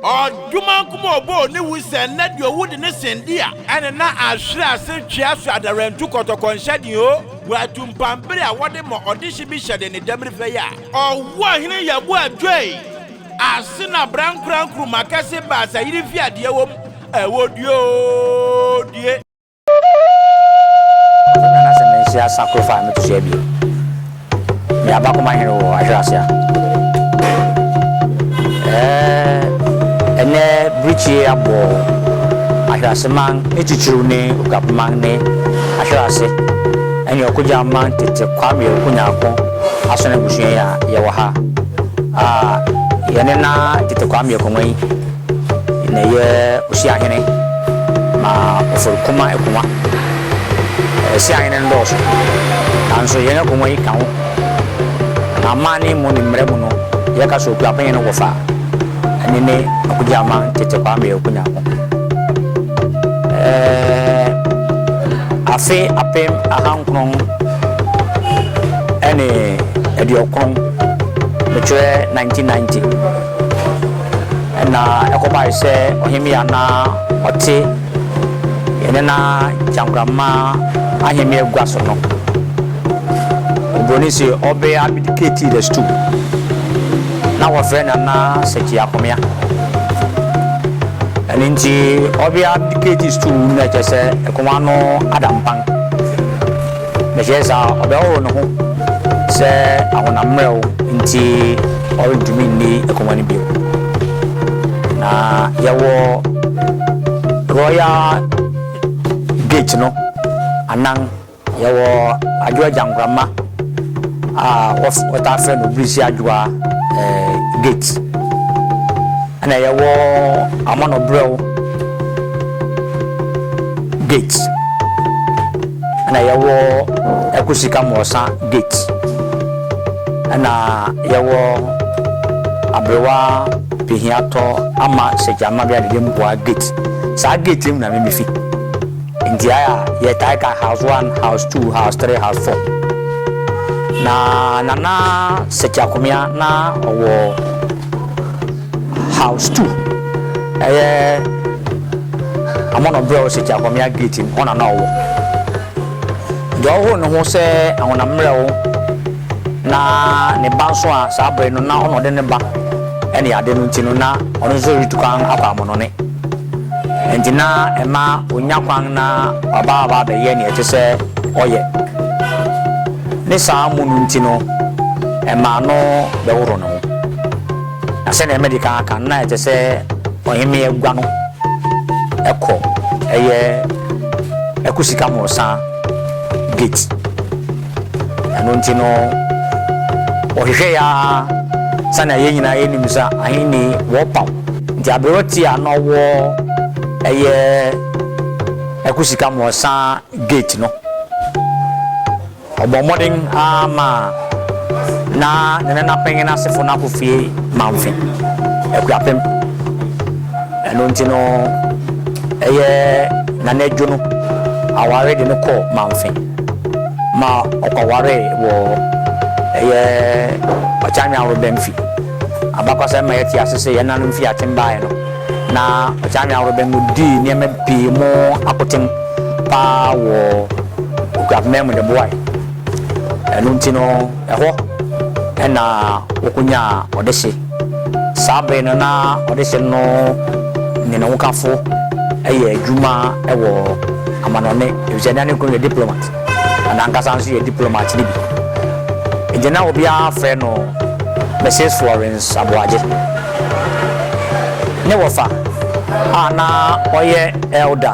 Ɔdomankoma a ɔbɔɔ ne wu sɛ nnɛ deɛ ɔwu de ne sen di a. Ɛne na ahwere ase twea so adarantu kɔtɔkɔ nhyɛden o wɔ atumpam bere a wɔde ma ɔdehye bi hyɛden ne dɛmere fɛ yi a. Ɔwɔ hene yɛboa dwoe. Ase na berankora nkruma kɛse baasa yiri fi adeɛ wom ɛwɔ duodue. Ɔso Nyame asɛm no nsi asa koro fa a meto so abien. Meyɛ abakoma hene wɔ Ahwere ase a. Eh, ɛnɛ birikyie abɔ Ahwere ase man ne titiriw ne Okuapman ne Ahwere ase ɛne Ɔkogya man tete Kwame Oku Nyarko. Asono abusua yi a yɛwɔ ha a yɛne na tete Kwame Akonwa yi na ɛyɛ Osiahene ma Ofor Kuma Akonwa. Asiahene no dɔɔso nanso yɛn Akonwa yi ka ho. Na amanne mu ne mmara mu no yɛka sɛ Okuapɛn no wɔfa. Ɛno ne Akogyama tete Kwame Ɔku Nyankwo. Ɛɛɛɛ afe apem ahankron ne aduokron, mekyerɛ 1990, ɛna ɛkɔbae sɛ ɔhemmea a na ɔte yɛn nena Kyankrama ahemmea gua so no, Oburoni se ɔbɛ abdicated as to. Na wɔfrɛ Nana Sɛkyi Akomea. Ɛno nti ɔbea de KG sukuu mu na ɛkyerɛ sɛ akongua no ada mpan. Mekyerɛ saa a, ɔbɛhohoro ne ho sɛ ahonam mmerɛw nti ɔrentumi nni akongua no bio. Na yɛwɔ Royal Gate no anan. Yɛwɔ Adwoa Gyankorama a wɔtaa frɛ no Birisi Adwoa Gate, ɛnna yɛwɔ Amanɔbrɛw Gate, ɛnna yɛwɔ Akwasika Mmorɔsa Gate, ɛnna yɛwɔ Aberewa Pehiatɔ Ama Sɛkyɛ Amabea Dede Mpoa Gate. Saa gate yi mu na me mifi. Nteae a yɛtae ka house one, house two, house three, house four. Na Nana Setia Komea na ɔwɔ house two. Ɛyɛ Amono Brɛw Setia Komea gate no, hɔ na na ɔwɔ. Deɛ ɔhoro ne ho sɛ ahonam mmerɛw na ne ba nso a saa bere no na ɔna ɔde ne ba ne ade no nti no na ɔno nso retu kwan akɔ Amonone. Enti na ɛma onya kwan na waba aba abɛyɛ nea ɛsɛ sɛ ɔyɛ. Ne saa mu no nti no, ɛmaa no bɛhoroo ne ho. Na sɛnea madi kan aka no, na ɛsɛ sɛ ɔhemmea gua no kɔ ɛyɛ Akusikamorosan Gate. Ɛno nti no, wɔhwehwɛe ara sɛnea yɛn nyinaa yɛnim sɛ ahenni wɔpaw. Nti aberewa ti a na ɔwɔ ɛyɛ ɛko sika mmoasa gate no, ɔbɔ mmɔden ara ma na ne nana panyin asefo no akɔ fie mamfe, akuapem. Ɛno nti no, ɛyɛ nana Adwo no aware de no kɔɔ mamfe. ma ɔkɔwaree wɔ ɛyɛ Ɔkyanweaworo Bɛmfi. Abakɔsɛm ma yɛte ase sɛ yɛn nanom fii atem baeɛ no, na Ɔkyanweaworo Bɛmfi dii nneɛma pii mu akoten pa ara wɔ Okuapman mu de boae. Ɛno nti no, ɛhɔ na wɔkɔnyaa ɔdehye. Saa bere no na ɔdesani no ne ne hokafo yɛ adwuma wɔ amanɔnne, efisɛ na ne kunu yɛ diplomat, na n'ankasa nso yɛ diplomat no bi. Enti na obiara frɛ no Misis Florence Aboagye. Ne wɔfa a na ɔyɛ elder,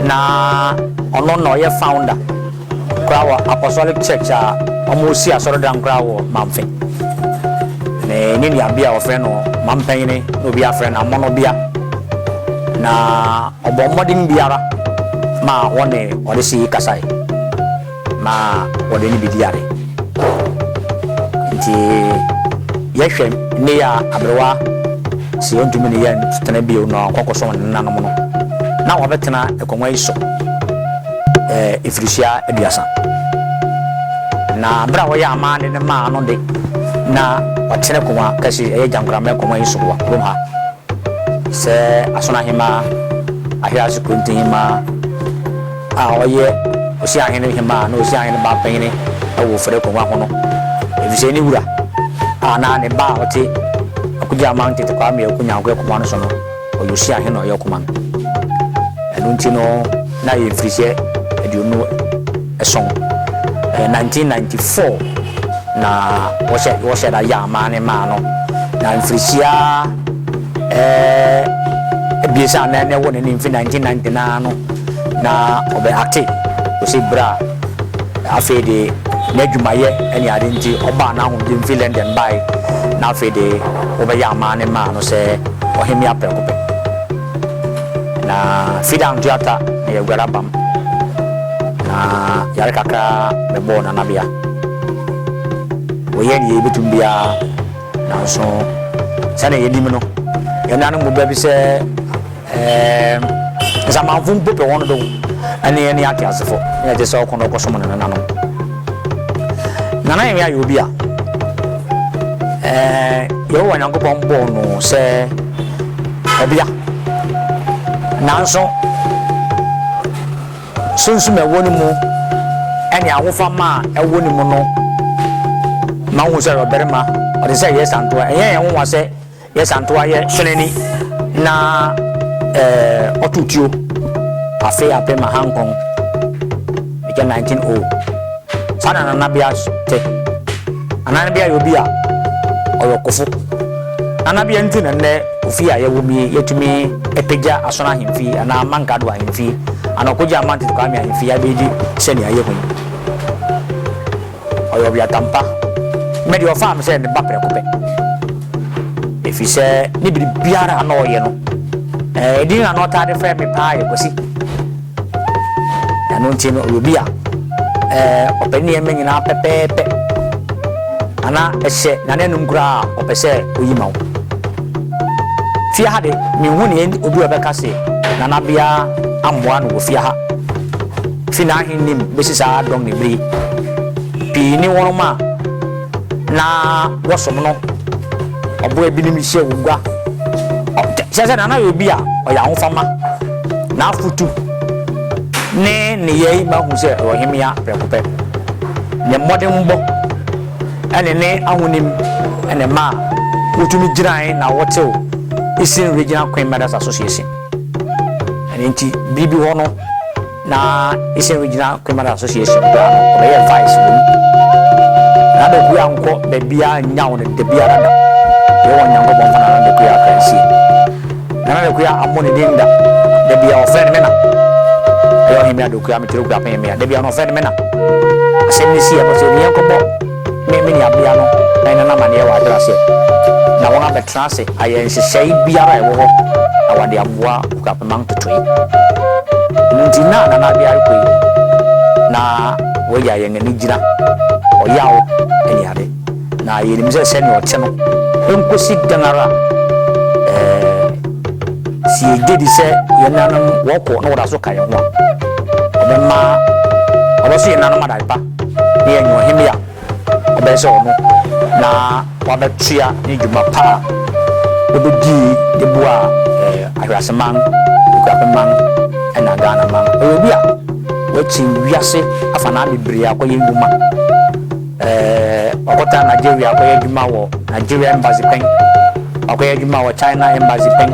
na ɔno na ɔyɛ founder. koraa wɔ Apostolic Church a wɔresi asɔredan koraa wɔ Mamfe. Me ne nuabea a wɔfrɛ no Mampanyin na obiara frɛ no Amono bea. Na ɔbɔɔ mmɔden biara ma wɔne ɔdehye yi kasae ma wɔde ne bedii ade. Enti yɛhwɛ nnɛ yi a aberewa se ontumi ne yɛn ntena bio na ɔnkɔkɔsom ne nenanom no, na wɔabɛtena akongua yi so. mfirihyia aduasa. Na bere a wɔyɛ amanne no maa no de, na watene koma kɛse, ɛyɛ gyankoramma koma yi so wɔ kurom ha, sɛ Aso Ahemaa, Ahease Kronti Hemaa a ɔyɛ Osiahene Hemaa ne Osiahene Baapanyin wɔ Fɛrɛ Kongua ho no, efisɛ ne wura a na ne ba a ɔte Akugye Aman Tete Kwame Aoko Nyankwe akongua no so no, Ɔyosia he na ɔyɛ ɔkoma no. Ɛno nti no na yɛ mfirihyia aduonu ason, ɛyɛ 1994, na wɔhyɛ wɔhyɛ da yɛ amaa ne maa no. Na mfirihyia ɛɛ abiesa a na na ɛwɔ n'anim fi 1990 no ara no na ɔbɛ acte kosi berɛ a afei de n'adwumayɛ ne ade nti ɔbaa n'ahomgye mfiri London bae na afei de wɔbɛyɛ amaa ne maa no sɛ Ɔhemmea prɛko pɛ, na Fida anto ata na yɛaguare abam, na yare kakra bɛbɔɔ Nanabea. Wɔyɛɛ nea yebetumi biara, nanso sɛnea yenim no, yɛn nuanom mu baabi sɛ ɛɛm, nsamanfo mpo pɛ wɔn dow ne ne ateasefo, na yɛte sɛ ɔko na ɔkɔsom ne nananom. Nana Ewia yɛ obi a Yehowa Nyankopɔn bɔɔ no sɛ ɔbea. Nanso, sunsum a ɛwɔ ne mu ne ahofama a ɛwɔ ne mu no ma wohu sɛ ɔyɛ ɔbarima, ɔte sɛ yɛsantoa. Ɛnyɛ yɛn nwonwa sɛ Yɛ santoa yɛ hyeneni na eh, ɔto tuo afe ape ma hankɔn ɛkyɛ 19 o saa na nana bea te nana bea yɛ obi a ɔyɛ ɔkofo nana bea nti na nnɛ ofie a yɛwɔ mie yɛtumi ɛpagya asono ahemfie anaa mankado ahemfie anaa ɔkogye amantet kwame ahemfie abɛdi sɛnea yɛhu yi Ɔyɛ ɔbeatan pa. Me deɛ, ɔfaa me sɛ ne ba prɛko pɛ, ɛfiri sɛ ne biribiara a na ɔyɛ no, edin a na ɔtaa de frɛ me paa yɛ Kwasi. Ɛno nti no, ɔyɛ obi a ɔpɛ ne nneɛma nyinaa pɛpɛɛpɛ, na na ɛhyɛ n'ananum koraa a, ɔpɛ sɛ ɔyi ma wo. Fie ha de, menhu nea enti obi a ɔbɛka se Nanabea ammoa no wɔ fie ha. Fi n'ahenni mu besi saa dɔm no bere yi, pii ne wɔnom a na wɔsom no ɔbo abinim hyɛ wɔn gua. Ɔ, kyerɛ sɛ na na yɛ obi a ɔyɛ ahofama. N'afotu ne nneyɛe ma hu sɛ ɔyɛ ɔhemmea prɛko pɛ. Ne mmɔdenbɔ ne ne ahonim na ɛmaa wotumi gyinae na wɔtew Eastern Regional Queen Mother's Association. Ɛno nti, bere bi hɔ no, na Eastern Regional Criminal Association koraa no, ɔbɛyɛɛ vice wɔ mu. Na Doku ankɔ baabiara annyaw no da biara da. Yɛwɔ Onyankopɔn fa na na Doku yɛ Akransie. Na na Doku ammɔ ne din da. Da biara ɔfrɛ no me na. Ɛyɛ Ɔhemmea Doku a, me Tereku Apɛnmea. Da biara no ɔfrɛ no me na. Asɛm no sii, ɛbɔ sɛ, Oniɛ nkɔbɔ. ne me nuabea no rennɔ no amanneɛ wɔ Adrasie, na wɔabɛtra ase ayɛ nhyehyɛe biara a ɛwɔ hɔ na wɔde aboa Kwapima ntotoe. Ɛno nti, na Nana Abiah rekɔ yi, na wagya yɛn ani gyina ɔyaw ne ade, na yenim sɛ sɛnea ɔte no, enkosi dɛn ara a, ɛɛ, sɛ yegye di sɛ yɛn nanom wɔkɔ na wɔda so ka yɛn ho a, ɔbɛma, ɔbɛso yɛn nanom adae pa. na yɛanya ɔhemmea a ɛbɛyɛ sɛ ɔno na wabɛtoa ne dwuma pa a obedii de boaa Ahwease man, Akuapem man na Ghana man. Ɔyɛ obi a wakyin wiase afanaa bebree akɔyɛ nnwuma. Wakɔtra Nigeria akɔyɛ adwuma wɔ Nigeria Embassy pɛn, wakɔyɛ adwuma wɔ China Embassy pɛn,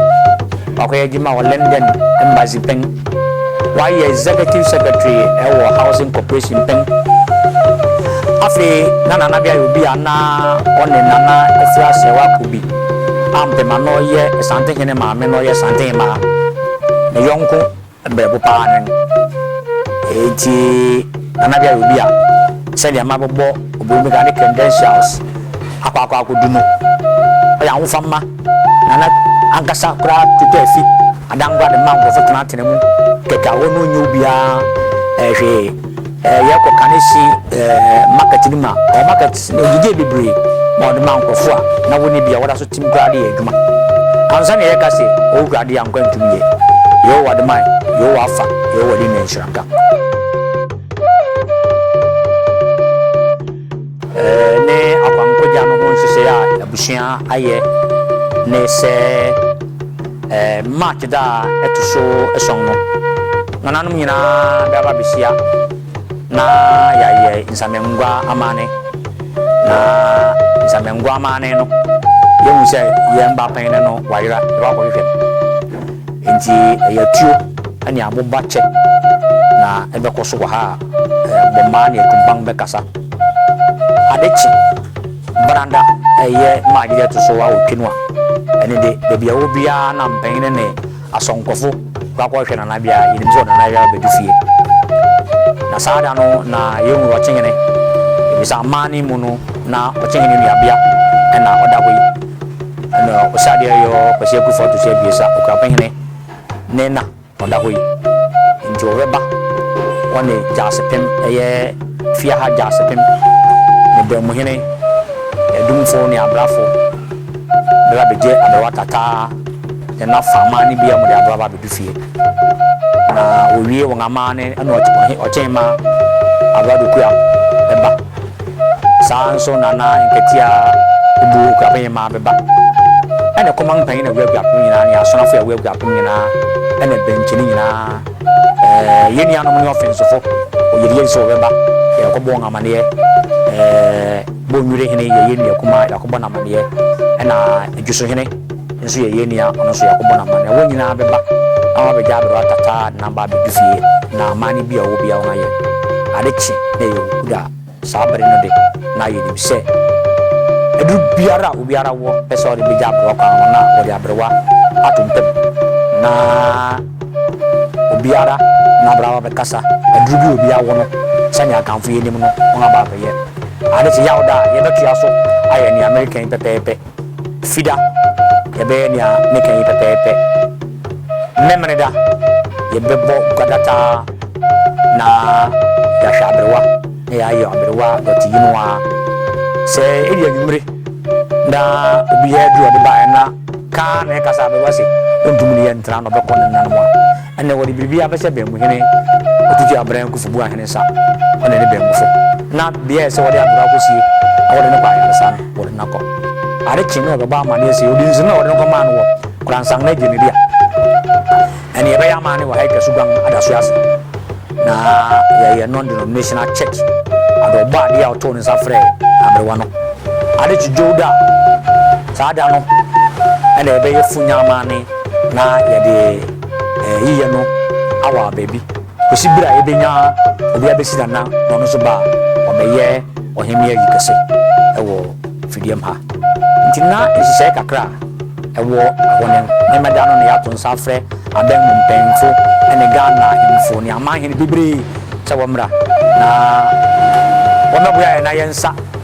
wakɔyɛ adwuma wɔ London Embassy pɛn. Ɔayɛ Executive Secretary wɔ Housing Corporation mpɛn. Afei na Nana Abiah yɛ obi a nna ɔne Nana Afua Serwaa Kobi Ampem a nna ɔyɛ Asante Hene maame na ɔyɛ Asante Hemaa ne yɔnko berɛbo paa no. Ntsi Nana Abiah yɛ obi a sɛdeɛ mabobɔ Oburumika ne credentials akɔ akɔ akodu no, ɔyɛ ahofama. Nana ankasa koraa twitwaa fi adangua de maa nkurɔfo tenatenaa mu kɛkɛ a hɔ no nnye obiara hwee. Yɛkɔ Kaneshie market no mu a, ɔwɔ market no ogyigyee bebree ma ɔde maa nkurɔfo a na wɔnni bi a wɔda so tim koraa de yɛ adwuma. Ansa na yɛreka sɛ, Owura de ankwa ntum yɛ. Yehowa de mae, Yehowa afa, Yehowa de nhyira nka. ne akwankogya no ho nhyehyɛe a abusua ayɛ ne sɛ March da a ɛto so ason no, nananom nyinaa bɛba abehyia na yɛayɛ nsamangua amanne. Na nsamangua amanne no, yɛahu sɛ yɛn ba panyin no wayera, yɛbɛkɔ akɔhwehwɛ no. Enti ɛyɛ atuo ne aboba kyɛ na ɛbɛkɔ so wɔ ha a, Bommaa ne Atumpan bɛkasa. Ade kye Brada ɛyɛ March da ɛto so awotwe no a, ɛno de baabi a ɔwɔ biara na mpanin ne asɔnkɔfo kɔ akɔhwɛ Nana Abia. Yɛnim sɛ ɔde Nana Abia bɛdu fie. Na saa da no na yɛhu Ɔkyehene, ɛfiri aman no mu no na Ɔkyehene nuabea na ɔda hɔ yi. Ɛna Osadeɛ Yɔɔ Kwasi Akuffo Atuso Abiesa, Ɔkurapehene ne na. Ɔda hɔ yi nti ɔbɛba hɔ ne Gyasepem, ɛyɛ Fiaha Gyasepem, ne Bɛnmuhene, Adumfo ne Abrafo bɛba abɛgye aberewa Tataa ne n'afammaa no biara mu de aboa aba abɛdu fie. Na wɔwie wɔn amanne na Ɔkyenmaa Aberewa Dokuya bɛba. Saa ara nso na na nkatia bu akuapem mmaa bɛba. Ɛna kɔman panyin na wura akuapem nyinaa ne asonafo a ɛwura akuapem nyinaa ɛna bɛnkyini nyinaa ɛɛ yɛn nuanom ne ɔfensofo ɔyeriyeri sɛ wɔbɛba yɛrekɔbɔ wɔn amaneɛ ɛɛ Bonnwire hene yɛyɛ nua kumaa yɛakɔbɔ no amaneɛ ɛna Adwuso hene nso yɛ yɛn nua, ɔno nso yɛakɔbɔ no amanneɛ. Wɔn nyinaa bɛba na wɔabɛgya aberewa tata a ne nan ba abedu fie, na amanne bi a ɔwɔ biara wɔayɛ. Ade kye na ɛyɛ owu da a, saa bere no de, na yenim sɛ aduru biara a obiara wɔ pɛ sɛ ɔde begya aberewa kwan no, na wɔde aberewa ato ntam, na obiara na aberewa aba abɛkasa aduru bi a obiara wɔ no, sɛnea Akanfo yi anim no, wɔaba abɛyɛ. Ade kye Yawda a, yɛbɛtoa so ayɛ nea mereka yi pɛpɛɛpɛ. Fida, Yɛbɛyɛ nea meka yi pɛpɛɛpɛ. Memeneda, Yɛbɛbɔ gua dataa na yɛahwɛ aberewa na yɛayɛ aberewa dɔte yi no ara. Sɛ edu anwummere na obi yɛ aduru a ɔde baeɛ na ka ara na ɛka sɛ aberewa se ɔntumi ne yɛn ntena na ɔbɛkɔ ne nananom a, Ɛnna wɔde biribiara bɛhyɛ Baanmuhene Otutu Abran Kufubu ahene nsa, ɔne ne baanmufo, na bea a ɛsɛ sɛ wɔde aboro akosie na wɔde no kɔ ayaresa no, wɔde no akɔ. Ade kyee no na wɔbɛbɔ amanneɛ sɛ odi nsono na wɔde no kɔmaa no wɔ Koransangna adwumadibea. Ɛnna yɛbɛyɛ amanne wɔ ha yi Kasuguan adasoɛ ase, na yɛyɛ non-denominational church, ɔde Ɔbɔadeɛ a ɔtoo ne nsa frɛɛ aberewa no. Ade kye Dwow da a, saa da no na yɛbɛyɛ funya amanne na yɛde. yiyɛ no awaa baabi kosi ber a yebenya obi abesi n'anan na ɔno nso ba a, ɔbɛyɛ ɔhemmea ayi kɛse wɔ Fidiam ha. Ntsi na nhyehyɛɛ kakra a ɛwɔ hɔ no, Nyeema da no na yɛato nsa afrɛ adan mu mpanyimfo ne Ghana ahemfo ne amanhen beberee sɛ wɔmbra na wɔmbɛboa hɛn na yɛnsa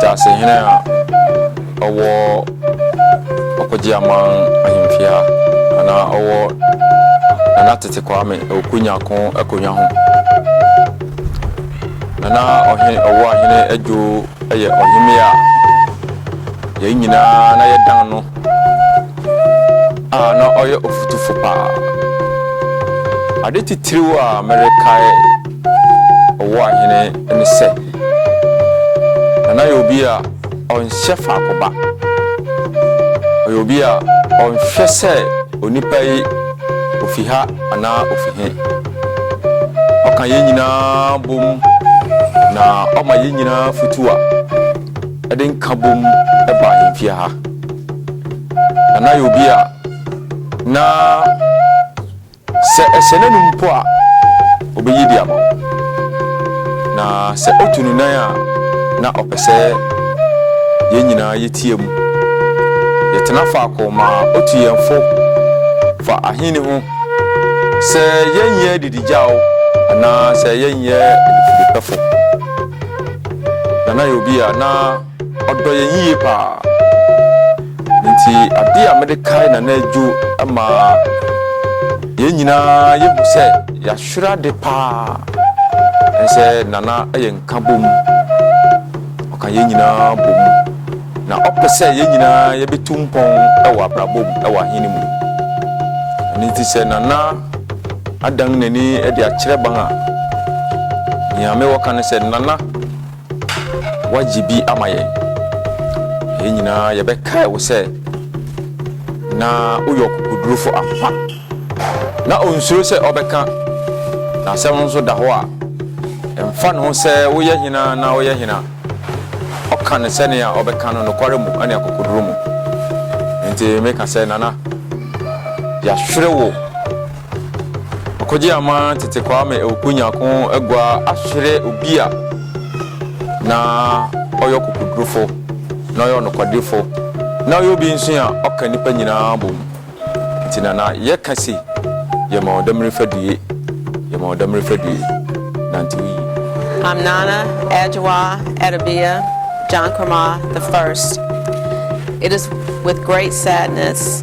Dasehene a ɔwɔ Ɔkogyeaman Ahemfie a na ɔwɔ Nana Tete Kwame Awuku Nyarko akonnwa ho. Nana Ɔhene Ɔwuahene Adwo yɛ ɔhemmea a yɛn nyinaa na yɛdan no a na ɔyɛ ɔfotufo paa. Ade titiriw a merekae ɔwɔ ahene ne sɛ, na na yɛ obi a ɔnhyɛ faako ba. Ɔyɛ obi a ɔnhwɛ sɛ onipa yi ofi ha anaa ofi he. Ɔka yɛn nyinaa bom na ɔma yɛn nyinaa futu a ɛde nka bom ba yɛn fie ha. Na na yɛ obi a na Sɛ ɛhyɛ n'anom mpo a, obeyi de ama wo, na sɛ otu ne nan a, na ɔpɛ sɛ yɛn nyinaa yɛteɛ mu. Yɛtena faako ma otu yɛn fo fa Ahenni ho, sɛ yɛnyɛ adidigyaw anaa sɛ yɛnyɛ adifudepɛfo. Nana yɛ obi a na. Ɔdɔ yɛn yiye paa. Enti ade a mede kae Nana Adwo ma yɛn nyinaa yehu sɛ yɛahwere ade paa ne sɛ Nana yɛ nkabom. Ɔka yɛn nyinaa bom, na ɔpɛ sɛ yɛn nyinaa yɛbetu mpɔn wɔ abrabɔ mu wɔ Ahenni mu. Ɛno nti sɛ Nana adan n'ani de akyerɛ ban a, nea mewɔ ka ne sɛ, Nana, Woagye bi ama yɛn. Yɛn nyinaa yɛbɛkae wo sɛ na woyɛ ɔkokodurufo ampa. Ná onsuro sɛ ɔbɛka n'asɛm no nso da hɔ a, ɛmfa ne ho sɛ woyɛ hena na woyɛ hena, ɔka no sɛnea ɔbɛka no nokware mu ne akokoduru mu. Enti meka sɛ, Nana, yɛahwere wo. Ɔkɔgye ama tete Kwame Awuku Nyarko agua ahwere obi a na ɔyɛ ɔkokodurufo, na ɔyɛ ɔnokwadefo, na ɔyɛ obi nso a ɔka nnipa nyinaa bom. Nti na na yɛka se, Yɛma wo damiri fadue, yɛma wo damiri fadue, nantew yiye. I'm Nana Adjoa Adebia Jankrama the First. It is with great sadness.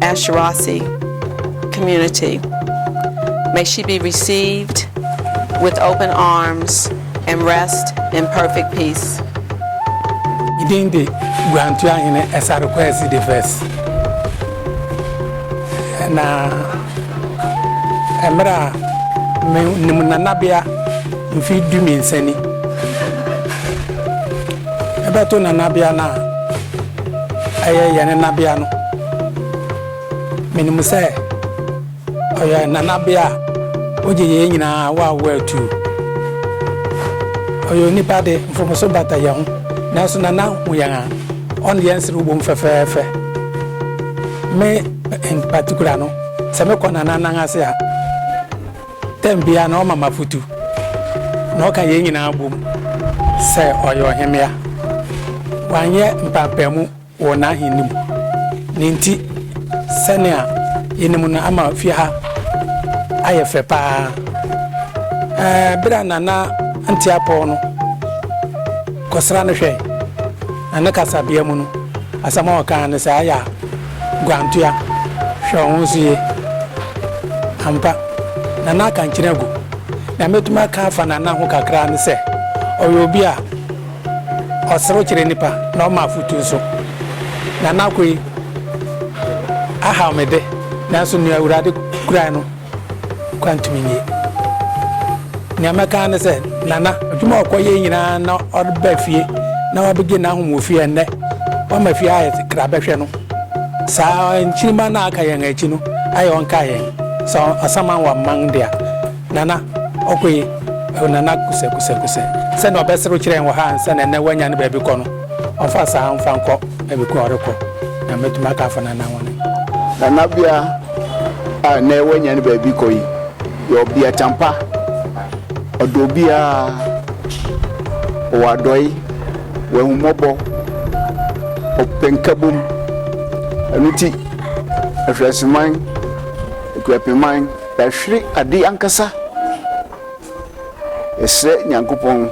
Ashirafi community. May she be received with open arms and rest in perfect peace. Ne din de Guantuahene Esare Kwesi the First. Na mmerɛ a me ne mu nanabea mfe du mmiɛnsa ni. Ɛbɛto nanabea no a ɛyɛ yɛn nenabea no, menim sɛ ɔyɛ nanabea a ogye yɛn nyinaa awoawoɔ atuu. Ɔyɛ onipa de, mfomso bata yɛn ho, nanso Nana hu yɛn a, ɔne yɛn serew bom fɛfɛɛfɛ. Me in particular no, sɛ mekɔ Nana nan ase a, Tɛm biara no ɔma me afotu, na ɔka yɛn nyinaa bom sɛ ɔyɛ ɔhemmea. Wanyɛ mpaapaemu wɔ n'ahenni mu. Ne nti, sɛnea yenim no ama fie ha ayɛ fɛ paa. Ɛɛ, bere a Nana Nteapɔw no kɔsra no hwɛe, na ne kasabea mu no, asɛm a ɔkae ne sɛ, Aya! Guantoa, hwɛ wo ho so yie. Ampa, Nana akankyene agu. Nea mɛtumi aka afa Nana ho kakra ne sɛ, ɔyɛ obi a ɔserew kyerɛ nnipa na ɔma afotu nso. Nana kɔ yi ahaw me de, nanso nea Awurade kurae no, Kwantumi nyi. Nea mɛka ara ne sɛ, Nana, adwuma a ɔkɔyɛe nyinaa na ɔreba fie na wabegye n'ahome wɔ fie, ɛnnɛ wama fie ayɛ kra bɛhwɛ no. Saa nkyirimma no a aka yɛn akyi no, ayɛ ɔnkaa yɛn. Sɛ ɔsaman wamman de a, Nana, ɔkɔ yi. Nana kusɛ kusɛ kusɛ. Sɛnea ɔbɛserew kyerɛ yɛn wɔ ha ansa na ɛnnɛ wanya ne baabi kɔ no. Ɔmfa saa mfa nkɔ baabi ko a ɔrekɔ na mɛtumi aka afa Nana ho no. Nanabea a nnɛ wanya ne baabi kɔ yi yɛ ɔbea kyampa. Ɔdɔ obiara, ɔwɔ adɔe, ɔwɔ ahummɔbɔ, ɔpɛ nkabom. Ɛno nti Ahwereseman Akuapemman yɛahwere ade ankasa. Yɛsrɛ Nyankopɔn.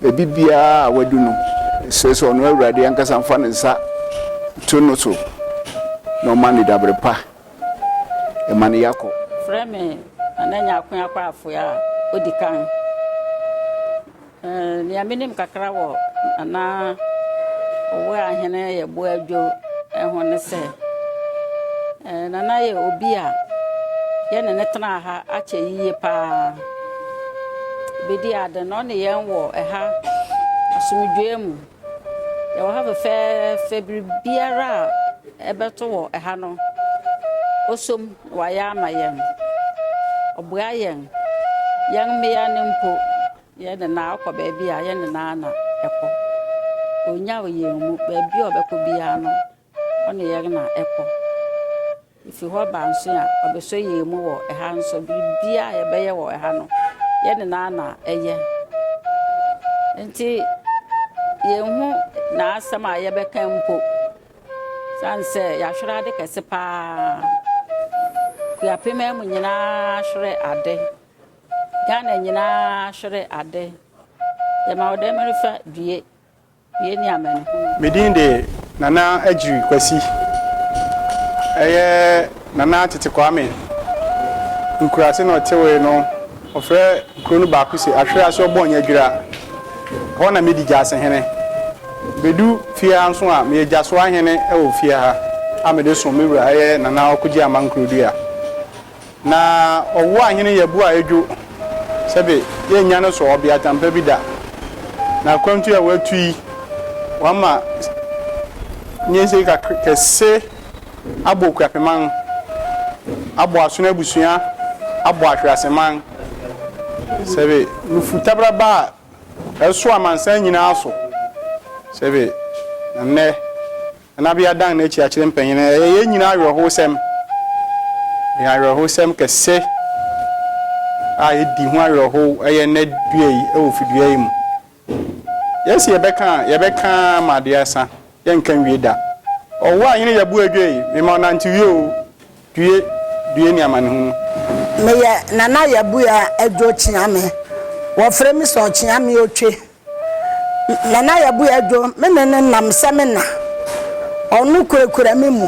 Baabi biara a wadu no, ɛsɛ sɛ ɔno Awurade ankasa fa ne nsa to no so na ɔma no dabere pa. Ɛma ne ya kɔ. Frɛ me Nana Nyarko Akwaafo a odi kan. Eh, nea menim kakra wɔ Nana Owuahene Yeboah Adwo ho ne sɛ, eh, Nana yɛ obi a yɛne ne tenaa ha akyɛ yiye paa. Bedi ade na ɔne yɛn wɔ ɛha asomdwoe mu. Yɛwɔ ha fɛfɛɛfɛ, biribiara a ɛbɛto wɔ ɛha no, oso mu na wayɛ ama yɛn. Ɔboa yɛn, yɛn mmea no mpo, yɛn nyinaa kɔ baabi a yɛn nyinaa na ɛkɔ. Onnyaw yɛn mu, baabi a ɔbɛkɔ biara no, ɔne yɛn na ɛkɔ. Efi hɔ ba nso a, ɔbɛsɔ yɛn mu wɔ ɛha nso. Biribiara a yɛbɛyɛ wɔ ɛha no, yɛn nyinaa na ɛyɛ. Enti yɛnhu n'asɛm a yɛbɛka mpo. Sane sɛ yɛahwerɛ ade kɛse paa. Kuapem mu nyinaa ahwerɛ ade. Ghana nyinaa ahwerɛ ade. Yɛma wo dɛmɛrefa due. Yɛnni amanehunu. Me din de Nana Agyiri Kwasi. Ɛyɛ Nana Tete Kwame nkuraase na ɔtewee no. Wɔfrɛ kuro no baako se Ahwere ase Ɔbɔnyadwira. Ɛhɔ na medi gyasehene. Bɛdu fie ha nso a, meyɛ gyasoahene wɔ fie ha a mede som me wura ɛyɛ Nana Ɔkogye Aman Kurodua. Na ɔwo ahene yɛbo a edwo sɛ de yɛnnya no so ɔbeatan pa bi da. Na akwantu a woatu yi, wama nyinsei kɛse abɔ okuapman, abɔ asono abusua, abɔ ahweaseman. Sɛbe nufu tabraba a ɛso amansan nyinaa so, sɛbe na nnɛ Nanabea dan n'akyi akyerɛ mpanyin. Ɛyɛ yɛn nyinaa awerɛhowsɛm. Ɛyɛ awerɛhowsɛm kɛse a edi ho awerɛhow yɛ nnɛ dua yi wɔ fidua yi mu. Yɛse yɛbɛka a, yɛbɛka ara ma ade asa, yɛnka nwie da. Ɔwo a yene yɛ bo adwo yi, mema wo nantewie o, due, due ne amanehunu. Meyɛ Nana Yabua Adwo Kyeame. Wɔfrɛ me sɛ Ɔkyeame Otwe. Nana Yabuye Adwo, me ne no nam sɛ me na. Ɔno kurakura me mu.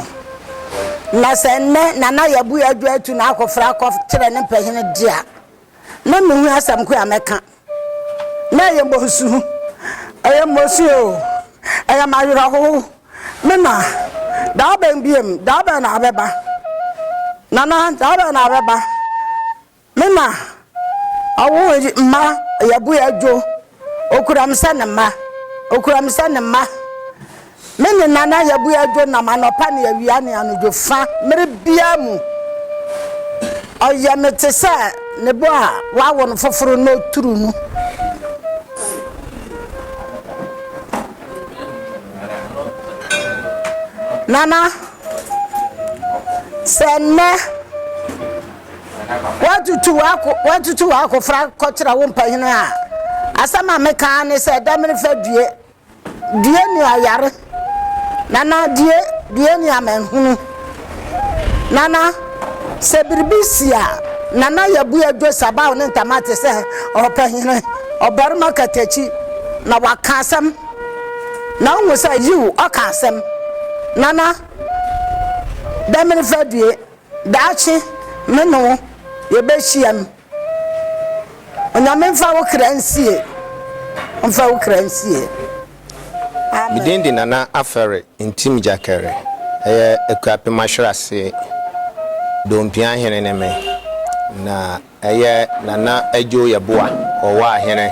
Na sɛ nnɛ Nana Yabuye Adwo atu n'akofra akɔ kyerɛ ne mpanyin de a, na minhu asɛm ko a mɛka. Na ɛyɛ mmɔnsu. Ɛyɛ mmɔnsu o. Ɛyɛ m'awerɛhow. Me na, da bɛn bio? Da bɛn na wobɛba? Nana, da bɛn na wobɛba? Me ma ɔwo mma yɛ bo yɛ dwo okura me sɛ ne mma okura me sɛ ne mma me ne nana yɛ bo yɛ dwo nam anɔpa ne awia ne anodwo fa mmere bia mu ɔyɛ me te sɛ ne bo a wawo no foforo na oturu no nana sɛ nnɛ Woatutu w'ako woatutu w'akofra kɔkyerɛ wo mpanyin a, asɛm a meka ara ne sɛ dɛm no fa due. Due nua yare. Nana due due nua manhunu. Nana sɛ biribi si a, Nana yɛbue dwo sabaw ne ntama te sɛ ɔpanyin, ɔbarima katakyi na waka asɛm. Na wohu sɛ yiw ɔka asɛm. Nana dɛm no fa due. Daakye me ne wo yɛbɛhyiam. Onyame mfa wo kra nsie. Ɔmfa wo kra nsie. Me din de Nana Afɛre Ntim Gyakɛre. Ɛyɛ Akuapem Ahwere ase. Dompi ahene ne me. Na. Eyɛ Nana Adjo Yeboah Owaa Hene.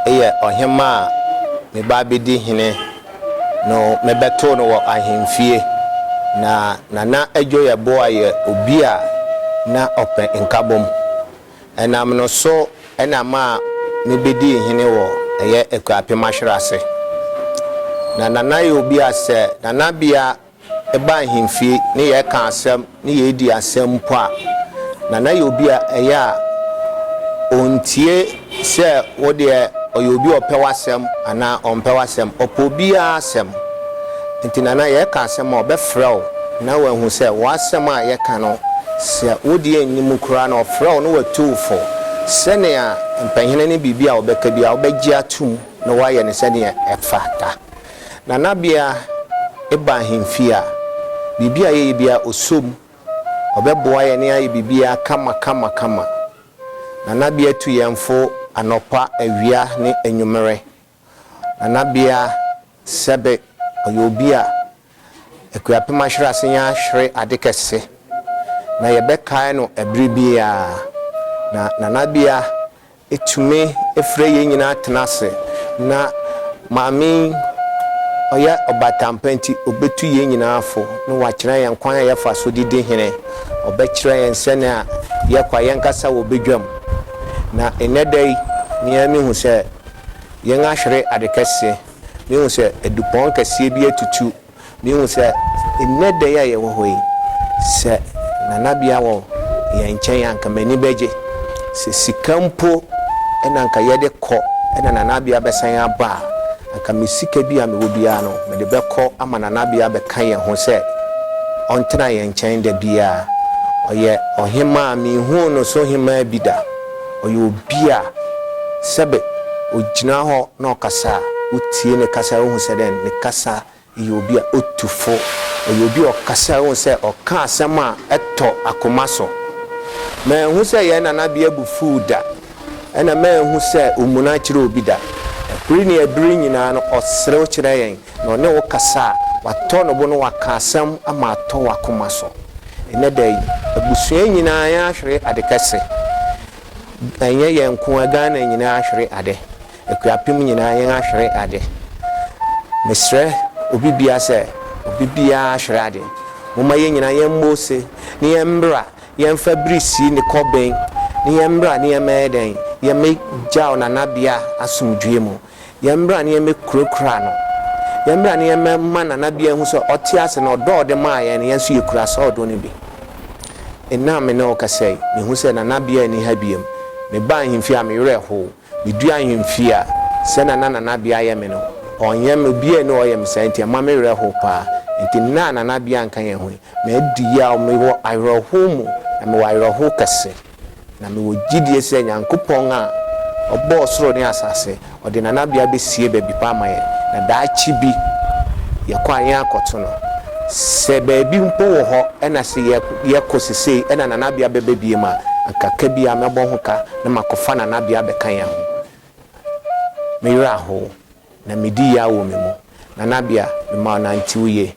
Eyɛ ɔhemaa a mebaa bedi hene no mebɛtoo no wɔ ahenfie. Na Nana Adjo Yeboah yɛ obi a na ɔpɛ nkabom. Ɛnam no so na maa mebedii hene wɔ ɛyɛ Akuapem Ahwerase. Na Nana yɛ obi a sɛ Nana bea Yɛba ahemfie ne yɛreka asɛm ne yɛredi asɛm mpo a, Nana yɛ obi a ɛyɛ a ɔntie sɛ wo deɛ ɔyɛ obi a ɔpɛ w'asɛm anaa ɔmpɛ w'asɛm. Ɔpɛ obiara asɛm. Nti Nana yɛreka asɛm a ɔbɛfrɛ wo na wahu sɛ w'asɛm a yɛka no sɛ wo deɛ nni mu koraa na ɔfrɛ wo na watu wo fo sɛnea mpanyini ne biribi a ɔbɛka biara wobɛgye atom na woayɛ no sɛdeɛ ɛfata. Nanabea ba ahemfie a, biribi a yɛyɛ biara ɔsɔ mu. Ɔbɛboa yɛn na yɛayɛ biribiara kama kama kama. Nanabea tu yɛn fo anɔpa, awia ne anwummerɛ. Nanabea sɛbe, ɔyɛ obi a Akuapem ahwere ase yɛn ahwere ade kɛse. Na yɛbɛkae no ɛberɛ biara. Na Nanabea Etumi frɛ yɛn nyinaa tena ase, na Maame yi, ɔyɛ ɔbatampa nti, obetu yɛn nyinaa fo, na wakyerɛ yɛn kwan a yɛfa so de di hene. Ɔbɛkyerɛ yɛn sɛnea yɛkɔ a yɛnkasa wɔ badwam. Na nnɛ da yi, me ara mihu sɛ yɛahwere ade kɛse. Mihu sɛ dupɔn kɛseɛ bi atutu Mihu sɛ nnɛ da yi a yɛwɔ hɔ yi, sɛ nanabea wɔ yɛn nkyɛn a anka m'ani bɛgye. Sɛ sika mpo na anka yɛde kɔ na nanabea bɛsan aba a, anka me sika bi a mewɔ biara no, mede bɛkɔ ama nanabea abɛka yɛn ho sɛ ɔntena yɛn nkyɛn da biara. Ɔyɛ ɔhemmaa a minhuu no so hemmaa bi da. Ɔyɛ obi a sɛbe ogyina hɔ na ɔkasa a, wotie ne kasa a wohu sɛ dɛn, ne kasa yɛ obi a otu fo. Ɔyɛ obi a ɔkasa a wohu sɛ ɔka asɛm a ɛtɔ akoma so. Manhu sɛ yɛn nanabea bo fuw da, ɛnna manhu sɛ omuna kyerɛ obi da. Bere ne bere nyinaa no, ɔserew kyerɛ yɛn. Na ɔne wo kasa a, watɔ ne bo na waka asɛm ama atɔ w'akoma so. Ɛnnɛ da yi, abusua nyinaa ahwere ade kɛse. Ɛnyɛ yɛn nko ara, Ghana nyinaa ahwere ade. Akuapem nyinaa yɛahwere ade. Mesrɛ obi biara sɛ, obi biara ahwere ade. Momma yɛn nyinaa yɛmmɔ ose na yɛmmra, yɛmfa bere nsie ne kɔben, na yɛmmra na yɛmmɛyɛ dɛn? Yɛmmɛgyaw nanabea asomdwoeɛ mu. Yɛmmra na yɛmmɛkurakura no. Yɛmmra na yɛmmɛma Nana Bia nhu sɛ ɔte ase na ɔdɔ a ɔde maa yɛn no, yɛn nso yɛkura saa ɔdɔ no bi. Nnɛ a me ne wo kasa yi, mehu sɛ Nana Bia nni ha bio. Mebaa ahemfie a, me werɛ how. Meduu ahemfie a, sɛnea na Nana Bia yɛ me no, ɔnyɛ me. Obiara nni hɔ a ɔyɛ me saa, enti ɛma me werɛ how paa. Enti nnɛ a Nana Bia nka yɛn ho yi, madi yaw. Mewɔ awerɛhow mu, na mewɔ awerɛhow kɛse. Na mewɔ gyidie sɛ Nyankopɔn a Ɔbɔɔ soro ne asase, Ɔde nanabea bɛsie baabi pa ama yɛn, na daakye bi yɛkɔ a yɛakɔto no. Sɛ baabi mpo wɔ hɔ na sɛ yɛkɔ sesei na nanabea bɛba biom a, anka ka biara mɛbɔ ho ka na makɔfa nanabea abɛka yɛn ho. Me werɛ ahow, na medi yaw wɔ me mu. Nanabea, mema wo nantew yie,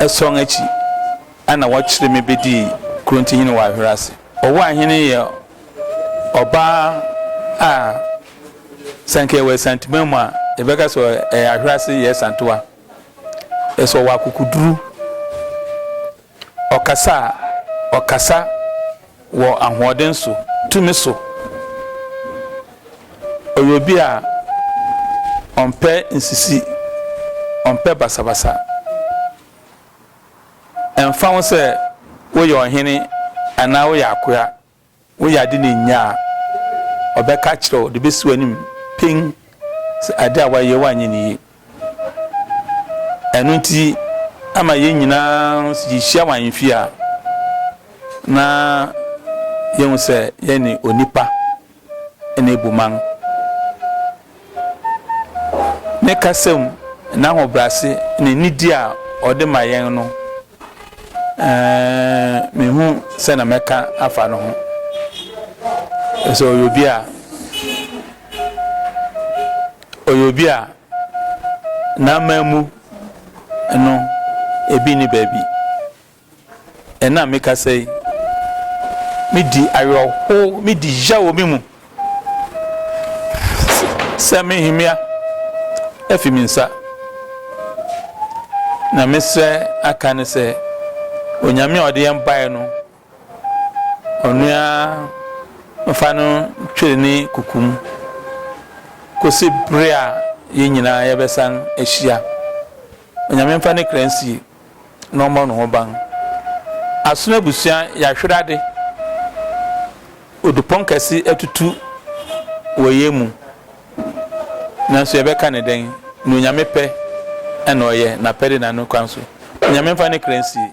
Ason akyi na wɔkyeree me bedii kurontihene wɔ Ahwera ase. Owuahene yɛ ɔbaa a sɛ anka yɛwɔ Asanteman mu a, yɛbɛka sɛ ɛyɛ Ahwera ase yɛ Asantewa. Ɛsɛ ɔwɔ akokoduru. Ɔkasa a ɔkasa wɔ ahoɔden so, tumi so. Ɔyɛ obi a ɔmpɛ nsisi, ɔmpɛ basabasa. Ɛmfa ho sɛ woyɛ ɔhene anaa woyɛ akoa. Woyɛ ade na ennya a, ɔbɛka akyerɛ wo, ɔde besi w'anim peng sɛ ade a woayɛ woanyɛ no yiye. Ɛno nti, ama yɛn nyinaa, sɛ yehyia wɔ ahemfie a, na yɛahu sɛ yɛne onipa na ebu man. Ne kasa mu, n'ahobrɛase, ne nidi a ɔde ma yɛn no, menhu sɛ na mɛka afa no ho. Sɛ ɔyɛ obi a ɔyɛ obi a n'aman mu no ebi ni baabi. Ɛnnɛ a mekasa yi, midi awerɛhow, midi yaw wɔ me mu sɛ me nhemmea afi me nsa, na mesrɛ aka no sɛ Onyame a ɔde yɛn bae no, ɔno ara mfa no ntweri ne kuku mu kosi bere a yɛn nyinaa yɛbɛsan ahyia. Onyame mfa ne kra nsie. na ɔmmɔ no ho ban. Asono abusua yɛahwere ade, odupɔn kɛse atutu wɔ yɛn mu, nanso yɛbɛka no dɛn? Nea Onyame pɛ na ɔyɛ, N'apɛde na Ne kwan so. Onyame mfa Ne kra nsie.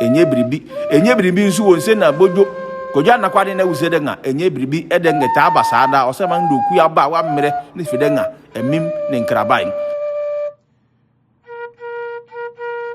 Enye biribi. Enye biribi nso wɔ nse na bodwo. Kojo anakwa de na wuse dɛ nga enye biribi. Ɛdɛ nga etaa ba saa daa? Ɔsɛ ma ndo kui aba a wammerɛ ne fi dɛ nga amim ne nkrabae.